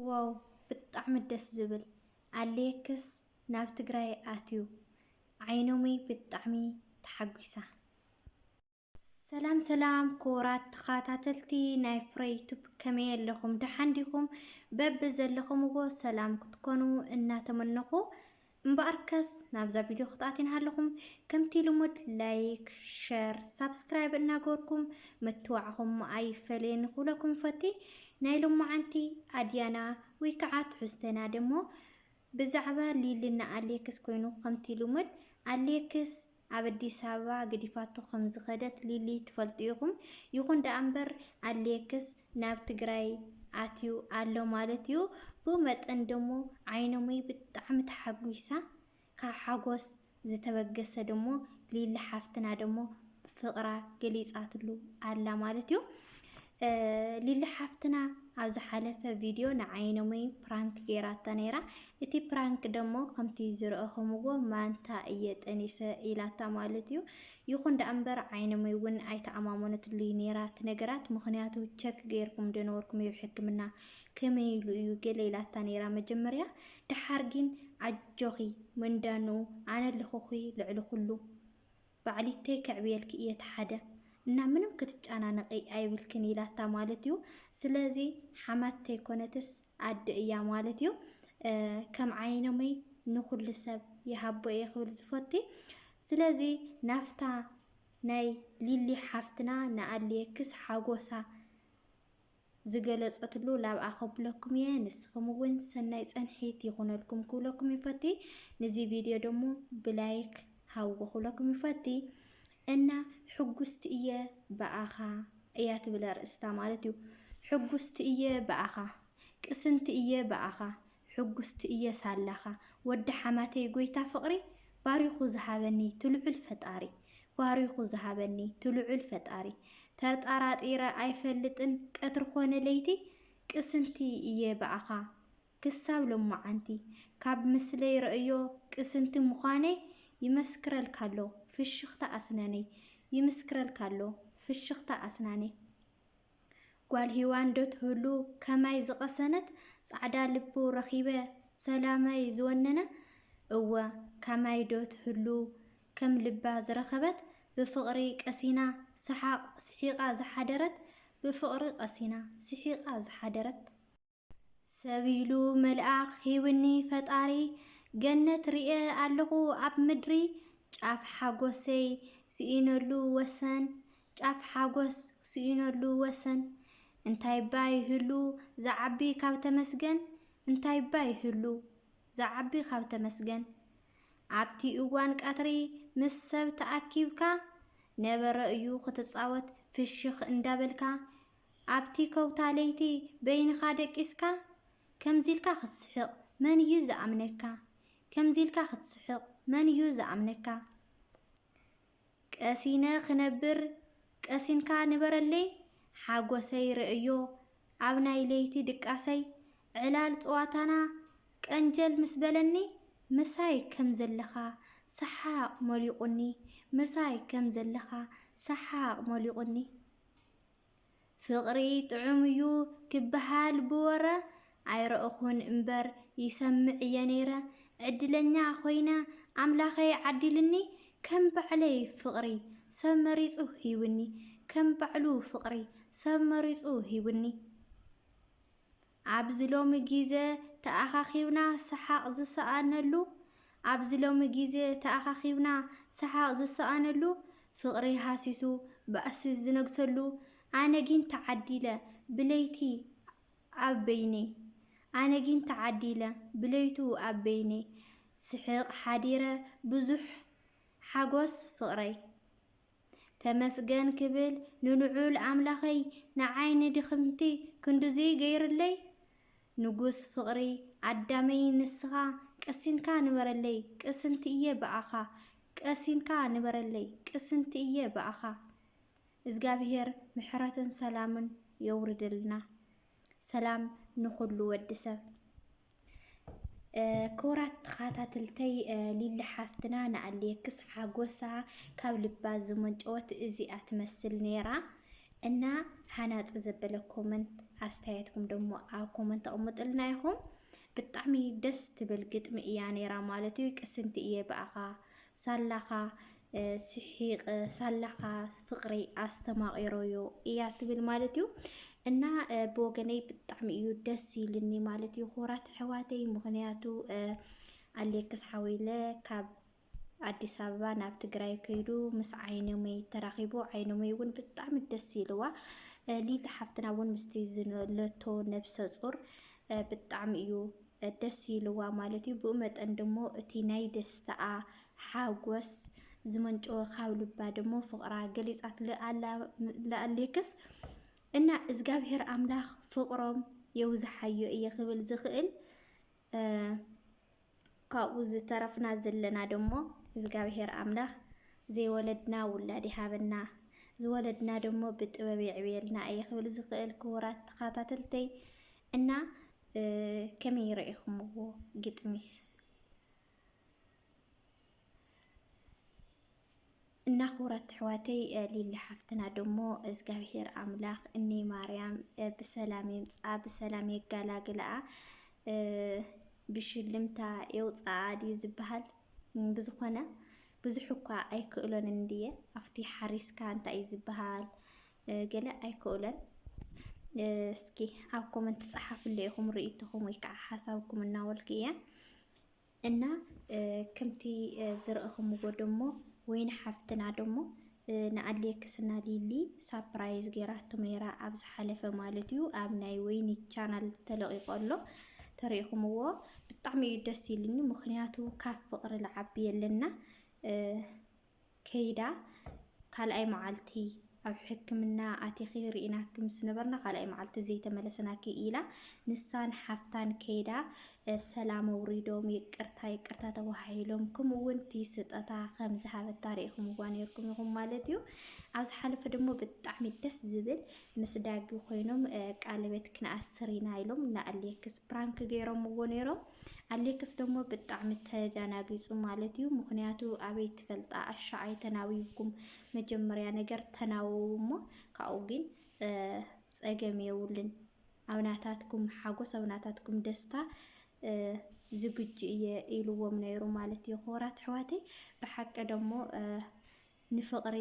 ዋው ብጣዕሚ ደስ ዝብል ኣሌክስ ናብ ትግራይ ኣትዩ ዓይኖመይ ብጣዕሚ ተሓጒሳ። ሰላም ሰላም ክቡራት ተኸታተልቲ ናይ ፍረይ ቱብ ከመይ ኣለኹም ደሓን ዲኹም በቢ ዘለኹምዎ ሰላም ክትኮኑ እናተመነኹ እምበኣርከስ ናብዛ ቪድዮ ክትኣትዩ እናሃለኹም ከምቲ ልሙድ ላይክ ሸር ሳብስክራይብ እናገበርኩም ምትዋዕኹም ኣይፈለየኒ ክብለኩም ይፈቲ። ናይ ሎማዓንቲ ኣድያና ወይ ከዓ ትሕዝቶና ደሞ ብዛዕባ ሊሊ እና ኣሌክስ ኮይኑ ከምቲ ልሙድ ኣሌክስ ኣብ ኣዲስ ኣበባ ገዲፋቶ ከም ዝኸደት ሊሊ ትፈልጡ ኢኹም። ይኹን ደኣ እምበር ኣሌክስ ናብ ትግራይ ኣትዩ ኣሎ ማለት እዩ። ብኡ መጠን ደሞ ዓይነሙይ ብጣዕሚ ተሓጒሳ። ካብ ሓጎስ ዝተበገሰ ደሞ ሊሊ ሓፍትና ደሞ ፍቕራ ገሊፃትሉ ኣላ ማለት እዩ። ሊሊ ሓፍትና ኣብ ዝሓለፈ ቪድዮ ንዓይነሙይ ፕራንክ ጌራታ ነይራ እቲ ፕራንክ ደሞ ከምቲ ዝረእኹምዎ ማንታ እየ ጠኒሰ ኢላታ ማለት እዩ ይኹን ደኣ እምበር ዓይነሙይ እውን ኣይተኣማመነትሉይ ነይራ ትነገራት ምኽንያቱ ቸክ ጌርኩም ደነበርኩም እዩ ሕክምና ከመይ ኢሉ እዩ ገለ ኢላታ ነይራ መጀመርያ ደሓር ግን ኣጆኺ መንዳንኡ ኣነ ኣለኹኺ ልዕሊ ኩሉ ባዕሊተይ ከዕብየልኪ እየ እቲ ሓደ እና ምንም ክትጨናነቂ ኣይብልክን ኢላታ ማለት እዩ ስለዚ ሓማት ተይኮነትስ ኣደ እያ ማለት እዩ ከም ዓይነሙይ ንኩሉ ሰብ ይሃቦ እየ ክብል ዝፈቲ ስለዚ ናፍታ ናይ ሊሊ ሓፍትና ንኣልየክስ ሓጎሳ ዝገለጸትሉ ላብኣ ከብለኩም እየ ንስክም እውን ሰናይ ጸንሒት ይኩነልኩም ክብለኩም ይፈቲ ንዚ ቪድዮ ደሞ ብላይክ ሃብዎ ክብለኩም ይፈቲ እና ሕጉስቲ እየ ብኣኻ እያ ትብል ኣርእስታ ማለት እዩ ሕጉስቲ እየ ብኣኻ ቅስንቲ እየ ብኣኻ ሕጉስቲ እየ ሳላኻ ወዲ ሓማተይ ጎይታ ፍቕሪ ባሪኹ ዝሃበኒ ትልዑል ፈጣሪ ባሪኹ ዝሃበኒ ትልዑል ፈጣሪ ተርጣራጢረ ኣይፈልጥን ቀትሪ ኮነ ለይቲ ቅስንቲ እየ ብኣኻ ክሳብ ሎማዓንቲ ካብ ምስለይ ረእዮ ቅስንቲ ምዃነይ ይመስክረልካ ኣሎ ፍሽኽታ ኣስነነይ ይምስክረልካ ኣሎ ፍሽኽታ ኣስናነይ ጓል ሂዋን ዶ ትህሉ ከማይ ዝቀሰነት ጻዕዳ ልቡ ረኪበ ሰላመይ ዝወነነ እወ ካማይ ዶ ትህሉ ከም ልባ ዝረከበት ብፍቅሪ ቀሲና ሰሓቅ ስሒቃ ዝሓደረት ብፍቅሪ ቀሲና ስሒቃ ዝሓደረት። ሰብ ኢሉ መልኣኽ ሂቡኒ ፈጣሪ ገነት ሪኤ ኣለኹ ኣብ ምድሪ ጫፍ ሓጎሰይ ስኢነሉ ወሰን ጫፍ ሓጎስ ስኢነሉ ወሰን እንታይ'ባ ይህሉ ዝዓቢ ካብ ተመስገን እንታይ'ባ ይህሉ ዝዓቢ ካብ ተመስገን ኣብቲ እዋን ቀትሪ ምስ ሰብ ተኣኪብካ ነበረ እዩ ክትጻወት ፍሽኽ እንዳበልካ ኣብቲ ከውታ ለይቲ በይንኻ ደቂስካ? ከምዚ ኢልካ ክትስሕቕ መን እዩ ዝኣምነካ? ከምዚ ኢልካ ክትስሕቕ መን እዩ ዝኣምነካ? ቀሲነ ክነብር ቀሲንካ ንበረለይ ሓጎሰይ ርእዮ ኣብ ናይ ለይቲ ድቃሰይ ዕላል ጸዋታና ቀንጀል ምስ በለኒ ምሳይ ከም ዘለኻ ሰሓቕ ሞሊቑኒ ምሳይ ከም ዘለኻ ሰሓቕ ሞሊቑኒ። ፍቕሪ ጥዑም እዩ ክበሃል ብወረ ኣይረእኹን እምበር ይሰምዕ እየ ነይረ። ዕድለኛ ኮይነ ኣምላኸይ ዓዲሉኒ ከም ባዕለይ ፍቕሪ ሰብ መሪጹ ሂቡኒ ከም ባዕሉ ፍቕሪ ሰብ መሪጹ ሂቡኒ። ኣብዚ ሎሚ ጊዘ ተኣኻኺብና ሰሓቕ ዝሰኣነሉ ኣብዚ ሎሚ ጊዘ ተኣኻኺብና ሰሓቕ ዝሰኣነሉ ፍቕሪ ሃሲሱ ባእሲ ዝነግሰሉ ኣነ ጊን ተዓዲለ ብለይቲ ኣብ በይነይ ኣነ ጊን ተዓዲለ ብለይቱ ኣብ በይነይ ስሕቕ ሓዲረ ብዙሕ ሓጎስ ፍቕረይ ተመስገን ክብል ንልዑል ኣምላኸይ ንዓይ ንድኽምቲ ክንድዚ ገይርለይ ንጉስ ፍቅሪ ኣዳመይ ንስኻ ቅሲንካ ንበረለይ ቅስንቲ እየ ብኣኻ ቀሲንካ ንበረለይ ቅስንቲ እየ ብኣኻ እዝጋብሄር ምሕረትን ሰላምን የውርድልና። ሰላም ንኹሉ ወዲ ሰብ ክቡራት ተኸታተልተይ ሊሊ ሓፍትና ንኣሌክስ ሓጎሳ ካብ ልባ ዝመንጨወት እዚኣ ትመስል ነይራ እና ሃናፂ ዘበለ ኮመንት ኣስተያየትኩም ደሞ ኣብ ኮመንት ኣቕምጥልና ይኹም ብጣዕሚ ደስ ትብል ግጥሚ እያ ነይራ ማለት እዩ ቅስንቲ እየ ብኣኻ ሳላኻ ሲሒቀ ሳላ ካኣ ፍቅሪ ኣስተማቂሮዮ እያ ትብል ማለት እዩ። እና ብወገነይ ብጣዕሚ እዩ ደስ ኢልኒ ማለት እዩ ክቡራት ኣሕዋተይ ምክንያቱ ኣሌክስ ሓዊለ ካብ ኣዲስ ኣበባ ናብ ትግራይ ከይዱ ምስ ዓይነመይ ተራኺቡ ዓይነመይ እውን ብጣዕሚ ደስ ኢልዋ ሊሊ ሓፍትና እውን ምስቲ ዝለቶ ነብሰ ፁር ብጣዕሚ እዩ ደስ ኢልዋ ማለት እዩ። ብኡ መጠን ድሞ እቲ ናይ ደስታኣ ሓጎስ ዝመንጨወ ካብ ልባ ድሞ ፍቕራ ገሊጻት ልኣላ ለኣሌክስ እና እዝጋብሔር ኣምላኽ ፍቕሮም የውዝሓዮ እየ ክብል ዝኽእል ካብኡ ዝተረፍና ዘለና ደሞ እግዚኣብሔር ኣምላኽ ዘይወለድና ውላድ ይሃበና ዝወለድና ደሞ ብጥበብ የዕብየልና እየ ክብል ዝኽእል ክቡራት ተኸታተልተይ እና ከመይ ረኢኹምዎ ግጥሚ እና ክቡራት ኣሕዋተይ ሊሊ ሓፍትና ደሞ እግዚኣብሄር ኣምላኽ እኒ ማርያም ብሰላም የምፅኣ ብሰላም የጋላግልኣ ብሽልምታ የውፅኣ ድዩ ዝበሃል ብዝኾነ ብዙሕ እኳ ኣይክእሎን እንድየ ኣብቲ ሓሪስካ እንታይ እዩ ዝበሃል ገለ ኣይክእሎን። እስኪ ኣብ ኮመንት ጸሓፍለ ኢኹም ርእይቶኹም ወይ ከዓ ሓሳብኩም እናበልኩ እየ እና ከምቲ ዝረእኹምዎ ደሞ ወይኒ ሓፍትና ደሞ ንኣሌክስና ሊሊ ሳፕራይዝ ገይራቶም ነይራ ኣብ ዝሓለፈ ማለት እዩ ኣብ ናይ ወይኒ ቻናል ተለቂቆ ኣሎ ተሪኢኹምዎ ብጣዕሚ እዩ ደስ ኢልኒ ምክንያቱ ካብ ፍቅሪ ልዓቢ የለና ከይዳ ካልኣይ መዓልቲ ኣብ ሕክምና ኣቲኺ ርኢናኪ ምስ ነበርና ካልኣይ መዓልቲ ዘይተመለስናኪ ኢላ ንሳን ሓፍታን ከይዳ ሰላም ኣውሪዶም ይቅርታ ይቅርታ ተባሃሂሎም ከምኡ እውን እቲ ስጠታ ከም ዝሃበታ ርኢኹምዋ ነይርኩም ኢኹም ማለት እዩ። ኣብ ዝሓለፈ ደሞ ብጣዕሚ ደስ ዝብል ምስ ዳጊ ኮይኖም ቃለቤት ክንኣስር ኢና ኢሎም ንኣሌክስ ፕራንክ ገይሮምዎ ነይሮም። ኣሌክስ ደሞ ብጣዕሚ ተዳናጊጹ ማለት እዩ ምኽንያቱ ኣበይ ትፈልጣ ኣሻ ኣይተናዊብኩም መጀመርያ ነገር ተናወው እሞ ካብኡ ግን ጸገም የውልን ኣብ ናታትኩም ሓጎስ ኣብ ናታትኩም ደስታ ዝግጁ እየ ኢልዎም ነይሩ ማለት እዩ። ክቡራት ኣሕዋተይ ብሓቂ ደሞ ንፍቅሪ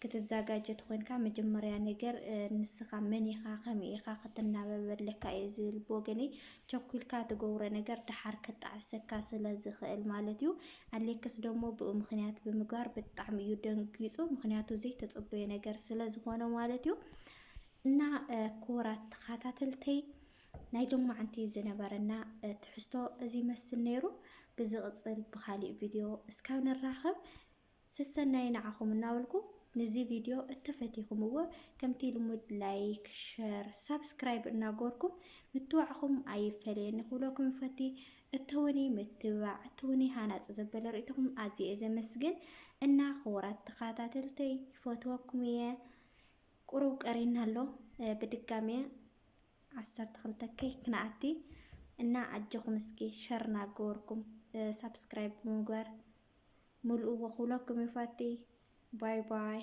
ክትዛጋጀ ተኮንካ መጀመርያ ነገር ንስካ መን ኢካ ከመይ ኢካ ክትናበብ ኣለካ እየ ዝብል ብወገነይ ቸኩልካ ትገብሮ ነገር ደሓር ክጣዕሰካ ስለ ዝክእል ማለት እዩ ኣሌክስ ደሞ ብኡ ምክንያት ብምግባር ብጣዕሚ እዩ ደንጊጹ ምክንያቱ ዘይተጸበዮ ነገር ስለ ዝኮነ ማለት እዩ እና ክቡራት ተካታተልተይ ናይ ሎማዓንቲ ዝነበረና ትሕዝቶ እዚ ይመስል ነይሩ ብዝቅፅል ብካሊእ ቪድዮ እስካብ ንራከብ ስሰናዩ ንዓኩም እናበልኩ ንዚ ቪድዮ እተፈቲኩምዎ ከምቲ ልሙድ ላይክ ሸር ሳብስክራይብ እናገበርኩም ምትባዕኩም ኣይፈለየኒ ክብለኩም ይፈቲ እተውኒ ምትብባዕ እተውኒ ሃናፂ ዘበለ ርእይቶኩም ኣዝየ እየ ዘመስግን እና ክቡራት ተከታተልተይ ይፈትወኩም እየ ቁሩብ ቀሪና ኣሎ ብድጋሜ ዓሰርተ ክልተ ኬይ ክንኣቲ እና ኣጆኹም እስኪ ሸር ናገበርኩም ሳብስክራይብ ብምግባር ምልእዎ ክብለኩም ይፈቲ ባይ ባይ።